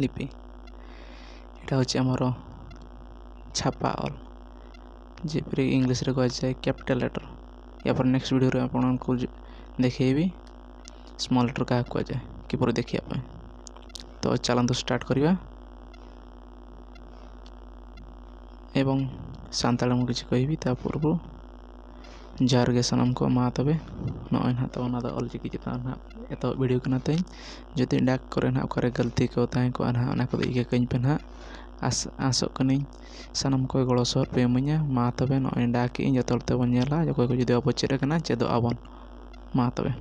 ᱞᱤᱯᱤ ᱮᱴᱟᱜ ᱦᱚᱸ ᱪᱮᱫ ᱮᱢ ᱦᱚᱨᱚᱜᱼᱟ ᱪᱷᱟᱯᱟ ᱚᱞ ᱡᱮ ᱯᱷᱨᱤ ᱤᱝᱞᱤᱥ ᱨᱮᱠᱚ ᱚᱞᱟᱥᱮ ᱠᱮᱯᱤᱴᱟᱞ ᱞᱮᱴᱟᱨ ᱮᱨᱯᱚᱨ ᱱᱮᱠᱥᱴ ᱵᱷᱤᱰᱭᱳ ᱨᱮ ᱟᱵᱟᱨ ᱚᱱᱟ ᱠᱚ ᱫᱮᱠᱷᱮᱭ ᱵᱤᱱ ᱥᱢᱚᱞ ᱞᱮᱴᱟᱨ ᱠᱟᱦᱮ ᱠᱚ ᱚᱞᱟ ᱠᱤᱵᱳᱨᱰ ᱨᱮ ᱫᱮᱠᱷᱮᱭᱟᱜ ᱵᱤᱱ ᱛᱚ ᱪᱟᱞᱟᱱ ᱫᱚ ᱥᱴᱟᱨᱴ ᱠᱚᱨᱤᱭᱟ ᱮᱵᱚᱝ ᱥᱟᱱᱛᱟᱲᱤ ᱢᱩᱵᱷᱤ ᱪᱤᱠᱟᱹᱭ ᱦᱩᱭᱩᱜᱼᱟ ᱛᱟᱨᱯᱚᱨ ᱵᱚᱱ ᱡᱚᱦᱟᱨ ᱜᱮ ᱥᱟᱱᱟᱢ ᱠᱚ ᱢᱟ ᱛᱚᱵᱮ ᱱᱚᱜᱼᱚᱭ ᱱᱟᱦᱟᱜ ᱛᱟᱵᱚᱱ ᱱᱚᱣᱟ ᱫᱚ ᱚᱞ ᱪᱤᱠᱤ ᱪᱮᱛᱟᱱ ᱨᱮ ᱱᱟᱦᱟᱜ ᱮᱛᱚᱦᱚᱵ ᱵᱷᱤᱰᱤᱭᱳ ᱠᱟᱱᱟ ᱛᱤᱧ ᱡᱩᱫᱤ ᱰᱟᱠ ᱠᱚᱨᱮ ᱱᱟᱦᱟᱜ ᱚᱠᱟᱨᱮ ᱜᱟᱹᱞᱛᱤ ᱠᱚ ᱛᱟᱦᱮᱸ ᱠᱚᱜᱼᱟ ᱱᱟᱦᱟᱜ ᱚᱱᱟ ᱠᱚᱫᱚ ᱤᱠᱟᱹ ᱠᱟᱹᱧ ᱯᱮ ᱱᱟᱦᱟᱜ ᱟᱥ ᱟᱥᱚᱜ ᱠᱟᱹᱱᱟᱹᱧ ᱥᱟᱱᱟᱢ ᱠᱚ ᱜᱚᱲᱚ ᱥᱚᱦᱚᱫ ᱯᱮ ᱤᱢᱟᱹᱧᱟ ᱢᱟ ᱛᱚᱵᱮ ᱱᱚᱜᱼᱚᱭ ᱰᱟᱠ ᱮᱫᱟᱹᱧ ᱡᱚᱛᱚ ᱦᱚᱲ ᱛᱮᱵᱚᱱ ᱧᱮᱞᱟ ᱚᱠᱚᱭ ᱠᱚ ᱡᱩᱫᱤ ᱵᱟᱵᱚ ᱪᱮᱫ ᱠᱟᱱᱟ ᱪᱮᱫᱚᱜ ᱟᱵᱚᱱ ᱢᱟ ᱛᱚᱵᱮ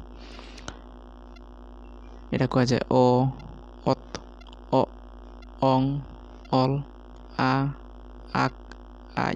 ᱮᱴᱟᱜ ᱠᱚᱣᱟᱜ ᱡᱮ ᱚ ᱚᱛ ᱚᱜ ᱚᱝ ᱚᱞ ᱟ ᱟᱠ ᱟᱡ